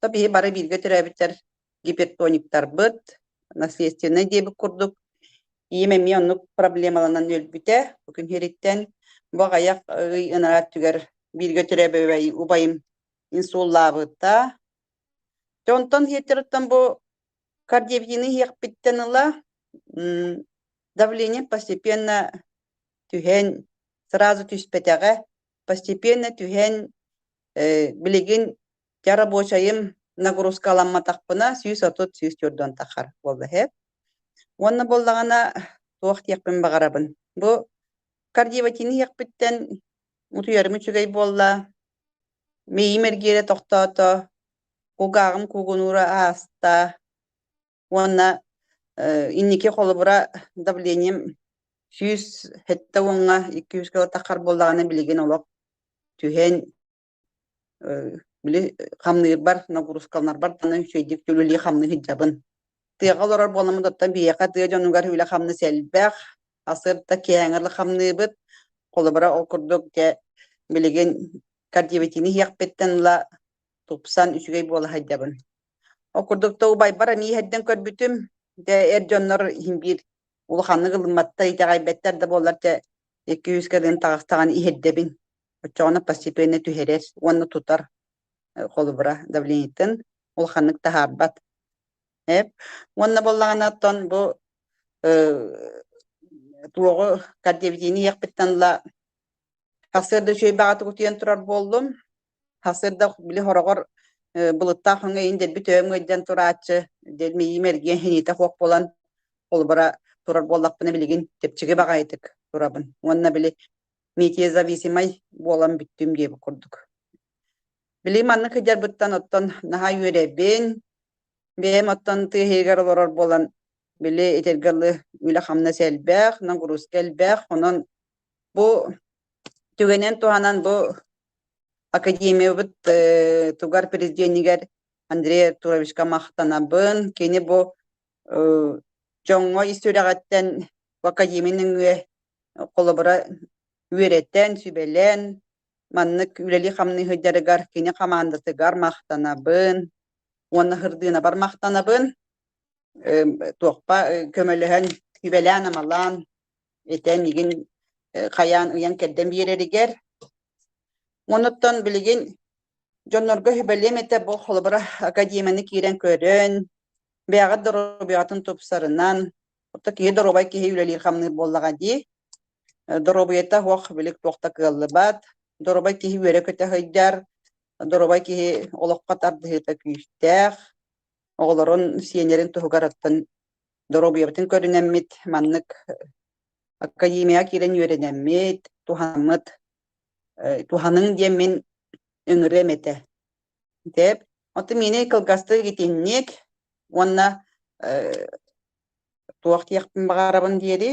то биһи бары бииргэ төрөөбүттэр гипертониктарбыт, наследственнай диэбит курдук, ийэм эмиэ оннук проблемаланан өлбүтэ бу күн хириттэн. Бу аҕайах ый ынара өттүгэр бииргэ төрөөбөбөй убайым инсуллаабыта. Тэ онтон хиэттериттэн бу кардиовитины хиэхпиттэн ыла давление постепенно түһэн, сразу түспэтэҕэ постепенно түһэн билигин дьэ рабочайым нагрузкаламматахпына сүүс отут сүүс төрдөн тахар буолла иһэ уонна буоллаҕына туох диэхпин баҕарабын бу кардиоватины иһэхпиттэн утуйарым үчүгэй буолла миим эргиэрэ тохтоото кугааҕым куугунуура ааста уонна инники холобура давлением сүүс хэттэ уонга икки жүз кило таххар буоллаҕына билигин олох түһэн били хамныырбар нагрузкаланарбар даны үчэйдик түлүлии хамны сыдьабын тыаҕа олорор буоламмыт оттон биһиэхэ тыа дьонугар үлэ хамны сэлбэх асырда кээҥэр хамныыбыт холобура ол курдук дьэ билигин кардиовитини иһиэхпиттэн ыла тупсан үчүгэй буола сылдьабын. Ол курдук да убайбар эмиэ иһэрдэн көрбүтүм. Дэ эр дьоннор иһин биир улаханнык ылымматта итэҕэйбэттэр да буоллар дэ икки үс кэлин таҕахтаҕан иһэрдэбин. Оччоҕуна постепенно түһэрэр уонна тутар холобура давлениетын улаханнык таһаарбат. Эп уонна боллаҕына оттон бу туоҕу кардиовитини иэхпиттэн ла тахсыарда үчүгэй баҕата кутуйан турар буоллум Хасырда били хороҕор былыттаах өҥө иин дэлби төбөм ыйдьан турааччы дэлмиийим эргиэн хиниитэ хуох буолан холбура турар буоллахпына билигин чэпчэки баҕайытык турабын уонна били метеозависимай буолан бүттүм диэбит курдук били манна кыдьарбыттан оттон наһаа үөрэбин бэйэм оттон тыа иһигэр олорор буолан били итиргэ ылы үлэ хамнас элбэх нагрузка элбэх онон бу түгэнин туһанан бу академиябыт э, тугар президенигэр Андрей Артуровичка махтанабын. Кини бу э, дьоҥҥо ис сүрэҕиттэн бу академия нөҥүө холобура үөрэтэн, сүбэлэн, маннык үлэли хамныы сылдьарыгар кини хамаандатыгар махтанабын уонна Хырдыынабар махтанабын. туохпа көмөлөһөн сүбэлээн-амалаан этэн игин хайаан ыйан кэрдэн биэрэригэр Онуттан билигин дьоннорго сүбэлиэм этэ бу холобура академияны киирэн көрөн, бэйэҕит доруобуйатын тупсарынан, отто киһи доруобай киһи үлэлиир хамныыр буоллаҕа дии. Доруобуйата ох билик туохта кыаллыбат, доруобай киһи үөрэ көтө сыдьар, доруобай киһи олоххо тардыһыыта күүстээх, оҕолорун, сиэннэрин туһугарыттан доруобуйабытын көрүнэммит, маннык академияҕа киирэн үөрэнэммит, туһаммыт, туһаныҥ диэн мин ыҥырыам этэ. Деп. Оттон миэнэ кылгастык итинник уонна туох диэхпин баҕарабын диэри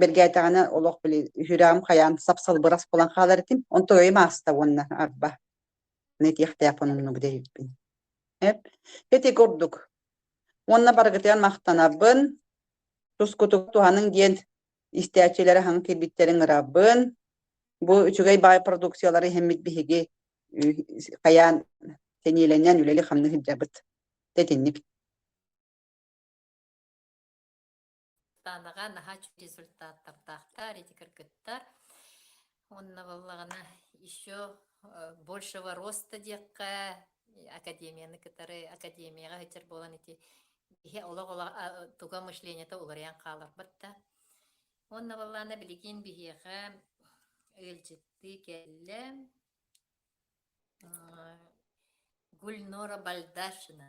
бэргээтэҕинэ олох били үһүрэҕим хайаан сап-салбырас буолан хаалар этим он тоойум ааста уонна арба нетиэхтээх оннук дэйиппин эп эти курдук уонна барыгытыгар махтанабын тускутук туһаның диэн истээччилэри хаҥ кирбиттерин ырабын бу үчүгэй баай продукциялары иһэммит биһиги хайаан сэниэлэнэн үлэли хамны сылдьабыт тэтинник Танаҕа наһаа үчүгэй результаттардаахтар, эти кыргыттар. Уонна буоллаҕына еще большего роста диэххэ академияны кытары академияҕа сылдьар буолан ити киһи олох олох туга мышлениета уларыйан хааларбыт да. Уонна буоллаҕына билигин биһиэхэ ыалдьыттыы кэллэ Гульнора Бальдашина.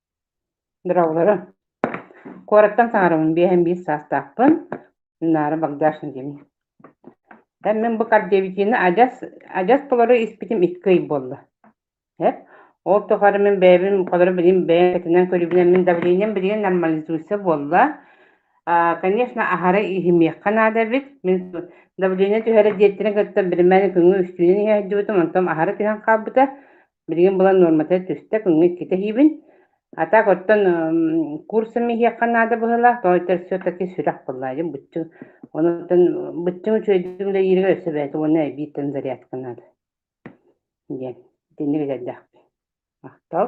Быраалара, куораттан саҥарабын биэһэн биир саастаахпын, Наара Багдашна диэни. Эммин бу кардиовитины адьас, адьас толору испитим икки ый буолла. Эп, ол тухары мин бэйэбин холоро билим бэйэм кэтинэн көрүбүн эммин давлением билигин нормализуется буолла. Аа, конечно, аһары иһимиэххэ наада эбит. Мин давление түһэрэ диэттэрин кытта билимэн күҥҥү үстүүнэн иһэ сылдьыбытым, онтон аһары түһэн хаалбыта. Билигин булан нуормата түстэ, күҥҥэ икки тэһиибин. А так оттон курсом иһиэххэ наада быһыылаах, тоойто все таки сүрэх быллаайым быччыҥ. Онон быччыҥ үчүгэйдик үлэлииригэр өссө бэйэтэ уонна эбиитин зарядка наада. диэн итинник этэрдэхпин. Махтал.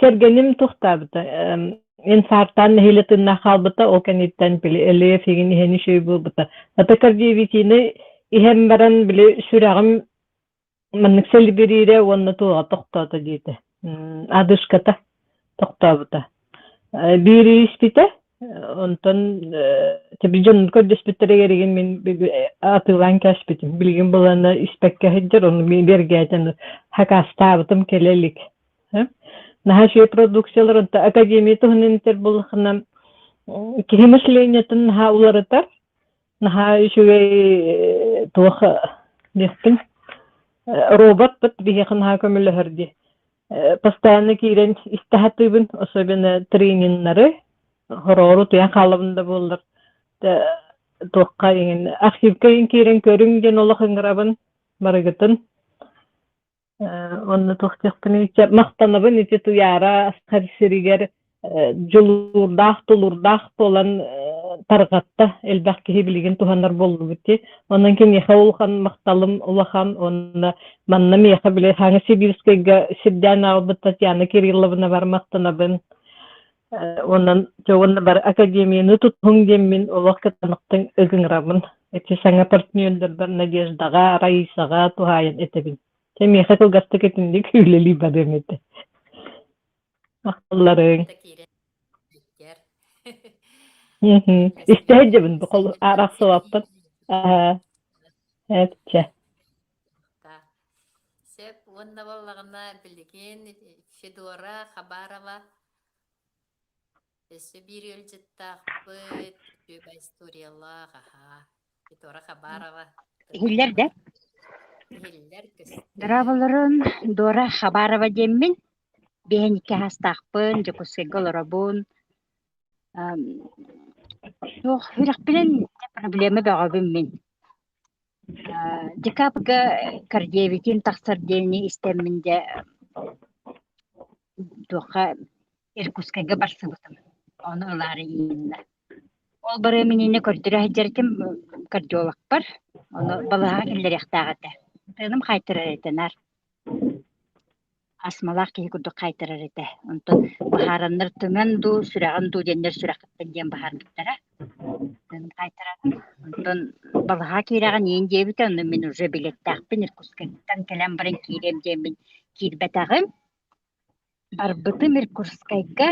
Кэргэним тохтообута. Инфарктаан нэһиилэ тыыннаах хаалбыта, ол кэнниттэн лиэфигин иһэн үчүгэй буолбута. Ата кардиовитины иһэн баран били сүрэҕим маннык сэлибириирэ уонна туоҕа тохтоото диэтэ. Адышката тохтообута. Биир ииспитэ, онтон тэби дьонун көрдөспүттэригэригин мин атыылаан кээспитим. Билигин булана испэккэ сылдьар, ону бэргээтэн хакаастаабытым кэлэ илик. Наһаа продукцияларын академия туһунан этэр буллахына киһи мышлениетын наһаа уларытар наһаа үчүгэй туох диэхпин робот быт биһиэхэ наһаа көмөлөһөр ди постоянно киирэн истэхатыыбын особенно трениннары хороору туйан хаалабын да буоллар туохха иҥин архивка киирэн көрүҥ диэн олох ыҥырабын барыгытын Онно туохтахпыный чэ махтанабын ити Туйаара Асхар сиригэр дьулуурдаах тулуурдаах буолан тарҕатта элбэх киһи билигин туһанар буоллубут дии онон киниэхэ улахан махталым улахан уонна манна миэхэ били Сибирскайга сирдээн аҕалбыт Татьяна Кирилловнабар махтанабын Онон дьоҕун бар академияны тутуһуҥ диэммин олох кытанахтыҥ ыгыҥырабын. Ити саҥа партнердарбар Надеждаҕа, Раисаҕа туһаайан этэбин. Чэ миэхэ кылгастык итинник үлэлии барыам этэ. Ахтылларыҥ. Истэһит дьэбин бу хол арахсыбаппын. Аһаа. Эпчэ. Сеп уонна боллаҕына билигин Федора Хабарова Өссө биир ыалдьыттаахпыт үчүгэй историялаах, аһаа, Витора Хабарова. Иһиллэр да? Иһиллэр көстөр. Дорооболорун Дора Хабарова диэммин. Биһэн икки аһастаахпын, Дьокуускайга олоробун. Суох, үрэхпинэн проблема бөҕөбүн мин. Декабрьга Кордевитин тахсар диэни истэммин дьэ туохха Иркутскайга барсыбытым. Ону ылаары ииннэ. Ол барыам иннинэ көрдөрө сылдьарытым кардиологпар. Ону балаһа киллэриэхтээх этэ. Тыыным хаайтарар этэ наар. астмалаах киһи курдук хаайтарар этэ онтон быһаараннар тыман дуу сүрэҕин дуу диэннэр сүрэххиттэн диэн быһаарбыттара хаайтарара онтон балаһаа киирэҕин иин диэбитэ онно мин уже билеттээхпин иркутскайтан кэлэн баран киириэм диэммин киирбэтэҕим барбытым иркутскайга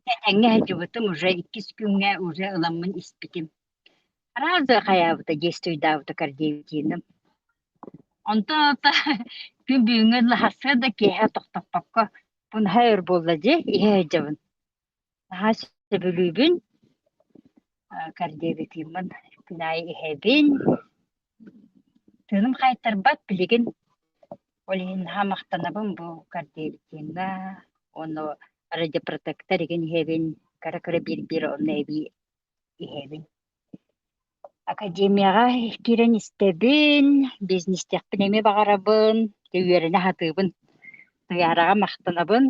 тэтэҥҥэ сылдьыбытым уже иккис күҥҥэ уже ыламмын испитим Арааза хайаабыта дьиэстүйдаабыта кардиевитиным. Онто та күн бүгүҥҥэ лаһасса да киэһэ тохтоппокко пунха өр буолла дьи иһэ дьабын. Наһаа сөбүлүүбүн кардиевитиммын күн аайы иһэбин. Тыыным хайыттарбат билигин ол иһин наһаа махтанабын бу кардиевитимҥа уонна радиопротектор игин иһэбин кара кыра биир биир онно эбии иһэбин. Академияҕа киирэн истэбин, бизнестэхпин эмиэ баҕарабын, үөрэнэ сатыыбын, тыйаараҕа махтанабын.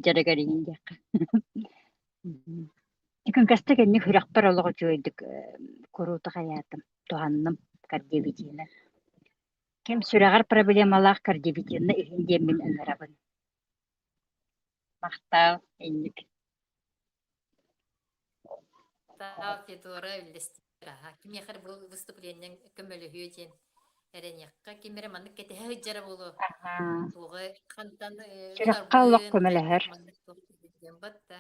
Дьарыгар иҥдэххэ. Күнкэстэ кэнник үрэхпэр олох үчүгэйдик куруутук айаатым, туһанным кардиобитиинэр. Ким сүрэҕэр проблемалаах кардиобитиинна иһин диэммин ыҥырабын. махтаал инник Таал Тетора үллэстиэҕа. Кимиэхэр бу выступлениеҥ көмөлөһүө диэн эрэниэххэ. Ким эрэ маннык кэтэһэ сылдьара буолуо. Тоҕо хантан Сүрэххэ олох көмөлөһөр. Батта.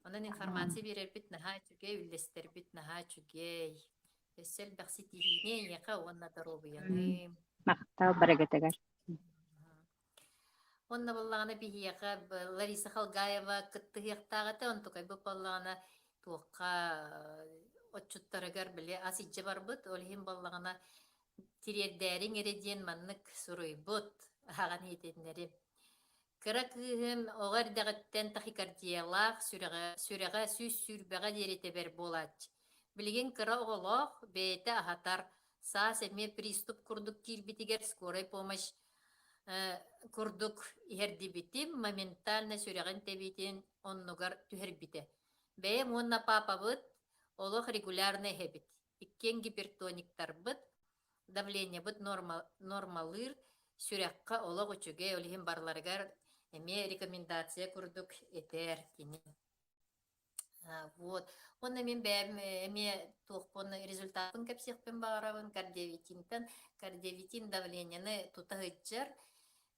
Онон информация берербит наһаа үчүгэй, үллэстэрбит наһаа үчүгэй. Өссө элбэхси тиһиини эйиэхэ уонна доруобуйаны. Махтаал барагатыгар. Уонна буоллаҕына биһиэхэ Лариса Халгаева кыттыһыахтаах этэ, онтукай бу буоллаҕына туохха отчуттарыгар били ас илдьэ барбыт, ол иһин буоллаҕына тириэрдээриҥ эрэ диэн маннык суруйбут аҕаҕын иһитиннэрим. Кыра кыыһын оҕо эрдэҕиттэн тахикардиялаах сүрэҕэ, сүрэҕэ сүүс сүүрбэҕэ диэри тэбэр буолааччы. Билигин кыра оҕолоох, бэйэтэ аһатар, саас эмиэ приступ курдук киирбитигэр скорай помощь курдук иһэрдибитим, моментально сүрэҕин тэбиитин оннугар түһэрбитэ. Бэйэм уонна паапабыт олох регулярно иһэбит. Иккиэн гипертониктарбыт, давлениебыт норма, нормалыыр, сүрэххэ олох үчүгэй, ол иһин барыларыгар эмиэ рекомендация курдук этэр кини. А, вот. Уонна мин бэйэм э, эмиэ туохпун результаппын кэпсиэхпин баҕарабын кардиовитинтэн. Кардиовитин давлениены тута сылдьар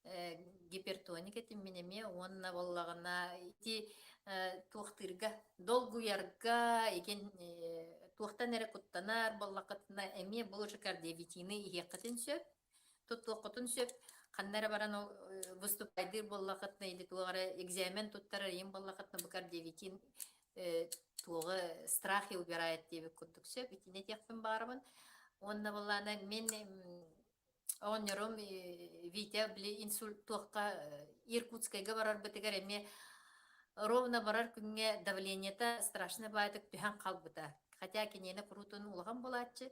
э, гипертоник этим мин эмиэ уонна буоллаҕына ити э, туохтыырга долгуйарга иген э, туохтан эрэ куттанар буоллаххытына эмиэ бұл же кардиовитины иһиэххитин сөп Туттуоххутун сөп. Ханна эрэ баран выступайдыыр буоллахытына, или туох эрэ экзамен туттарар ийин буоллахытына, букар диэгитин туоҕа страхи убирает диэбит курдук сөп. Итине диэхпин баарабын. Онна боллаана мен оонньорум Витя били инсульт туохха Иркутскайга барарбытыгар эми ровно барар күҥҥэ давлениета страшно баатык түһэн хаалбыта. Хотя киниэне куруутун улахан булааччы.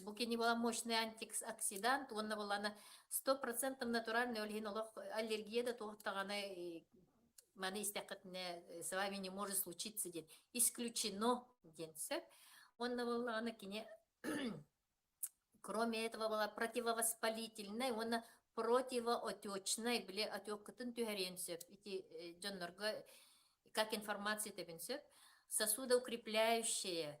Бу кини была мощный антиоксидант уонна буолана сто процентов натуральный ол иһин олох аллергия да туохтаҕана маны истэххитинэ с вами не может случиться диэн исключено диэн сөп уонна буоллаҕына кини кроме этого была противовоспалительной уонна противоотечной били отеккытын түһэриэн сөп ити дьоннорго как информация тэбин сөп сосудоукрепляющая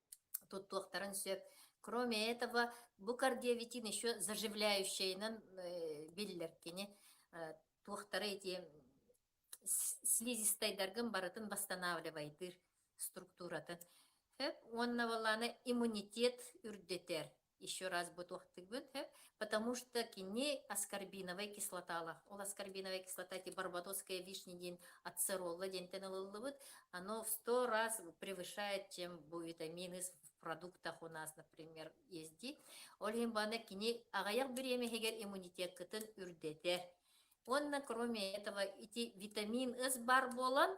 туттуохтарын сөп. Кроме этого, бу кардиовитин еще заживляющайынан биллэр кини туохтара эти слизистайдаргын барытын восстанавливайтыр структуратын. Өп уонна баланы иммунитет үрдетер. еще раз бу туохтыгбыт, потому что кини аскорбиновай кислоталах. Ол аскорбиновай кислота ти барбадосская вишня день ацеролла дентен ылыллыбыт, оно в сто раз превышает, чем витамины в продуктах у нас, например, езди. Ольгин бана кини агаяк биремехигер иммунитет кытын үрдетер. Онна кроме этого эти витамин С бар болан,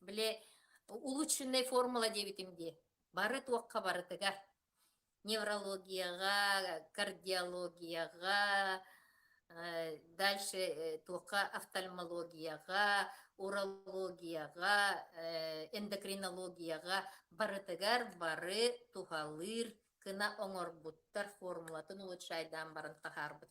Бile улучшенная формула диэбитим дии. Бары туохха барытыгар. Неврологияҕа, кардиологияҕа, дальше туохха офтальмологияҕа, урологияҕа, эндокринологияҕа барытыгар бары туһалыыр гына оҥорбуттар формулатын улучшайдаан баран таһаарбыт.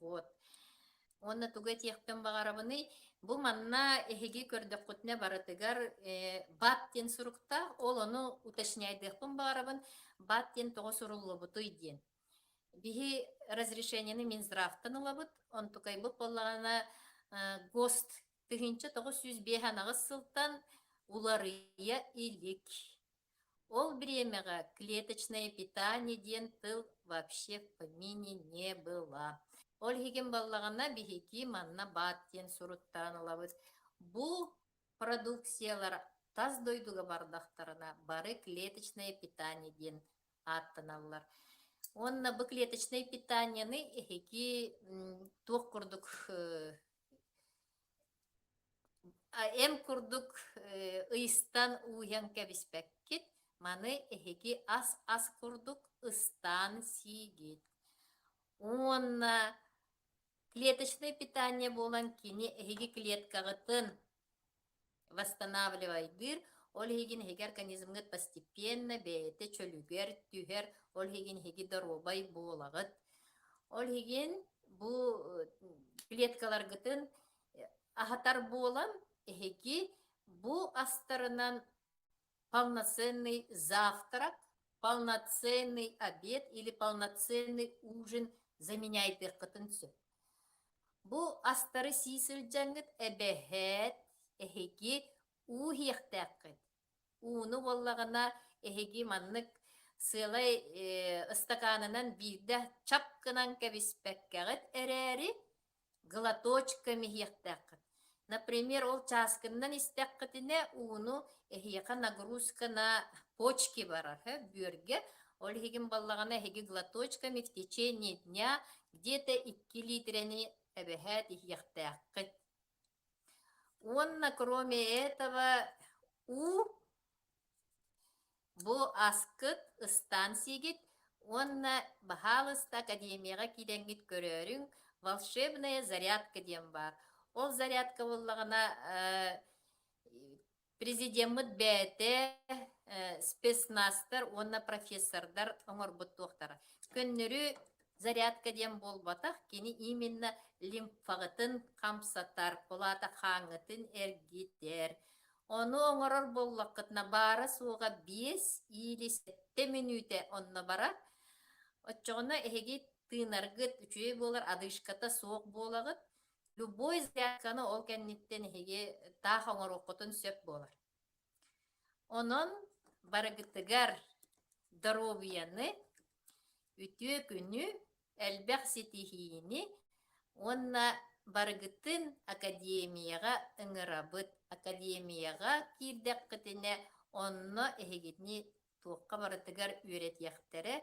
Вот. Уонна тугу этиэхпин баҕарабыный? Бу манна эһиги көрдөххүтүнэ барытыгар э, бат диэн суруктаах, ол ону уточняйдыахпын баҕарабын. Бат диэн тоҕо суруллубутуй диэн. Биһи разрешениены Минздравтан ылабыт, онтукайбыт боллаҕана э, ГОСТ тыһыынча тоҕус сүүс биэс анаҕыс сылтан уларыйа илик. Ол бириэмэҕэ клеточное питание диэн тыл вообще в помине не было. Ол иһигин баллаҕана биһиги манна баат диэн суруттаан ылабыт. Бу продукциялар тас дойдуга бардахтарына бары клеточное питание диэн ааттаналлар. Уонна бу клеточное питанияны эһиги туох курдук Ем курдук ыйыстан ууйан кэбиспэккит, маны эһиги ас-ас курдук ыстаан сиигит. Уонна клеточное питание буолан кини эһиги клеткаҕытын восстанавливайдыыр, ол иһигин иһиги организмгыт постепенно бэйэтэ чөлүгэр түһэр, ол иһигин иһиги доруобай буолаҕыт. Ол иһигин бу клеткаларгытын аһатар буолан, иһиги бу астарынан полноценный завтрак, полноценный обед или полноценный ужин заменяйдыаххытын сөп. Бу астары сии сылдьаҥҥыт эбэһээт эһиги ууһиэхтээххит. Ууну буоллаҕына эһиги маннык сыалай ыстакаанынан биирдэ чап гынан кэбиспэккэҕит эрээри глоточком иһиэхтээххит. Например, ол чааскыннан истэххитинэ ууну эһиэхэ нагрузка на почки барар бүөргэ. Ол иһигин баллаҕына эһиги глоточками в течение дня где-то 2 литраны эбэһээт иһиэхтээххит. Уонна кроме этого у Бу аскыт, ыстаан сиигит уонна Баһаалыста академияҕа киирэҥҥит көрөөрүҥ «Волшебная зарядка» диэн баар. Ол зарядка буоллаҕына президеммыт бэйэтэ спецнастар уонна профессордар оҥорбут туохтара. Көннөрү зарядка диэн буолбатах, кини именно лимфаҕытын хамсатар, кулаата хааҥҥытын эргитэр. Ону оҥорор буоллаххытына баара-суоҕа биэс или сэттэ мүнүүтэ онно барар. Оччоҕуна эһиги тыынаргыт үчүгэй буолар, одышката суох буолаҕыт. Любой зарядканы ол кэнниттэн эһиги таах оҥоруоххутун сөп буолар. Онон барыгытыгар доруобуйаны, үтүө күнү, элбэх ситиһиини уонна барыгытын академияҕа ыҥырабыт. Академияҕа киирдэххитинэ, онно эһигитини туохха барытыгар үөрэтиэхтэрэ,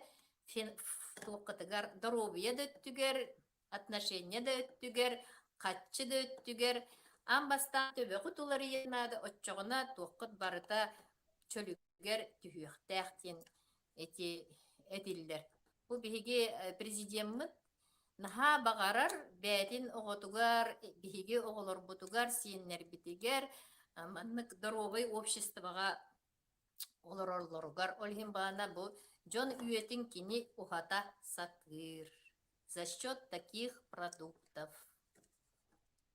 туоххутугар доруобуйа да өттүгэр, отношения да өттүгэр, хаччы да өттүгэр ам бастаан төбөҕүт уларыйан наада, оччоҕуна туоххут барыта чөлүгэр түһүөхтээх диэн эти этиллэр. Бу биһиги э, президеммыт наһаа баҕарар бээтин оҕотугар, биһиги оҕолорбутугар, сиэннэрбитигэр э, маннык доруобай обществоҕа олороллоругар. Ол иһин баана бу дьон үйэтин кини уһата сатыыр за счет таких продуктов.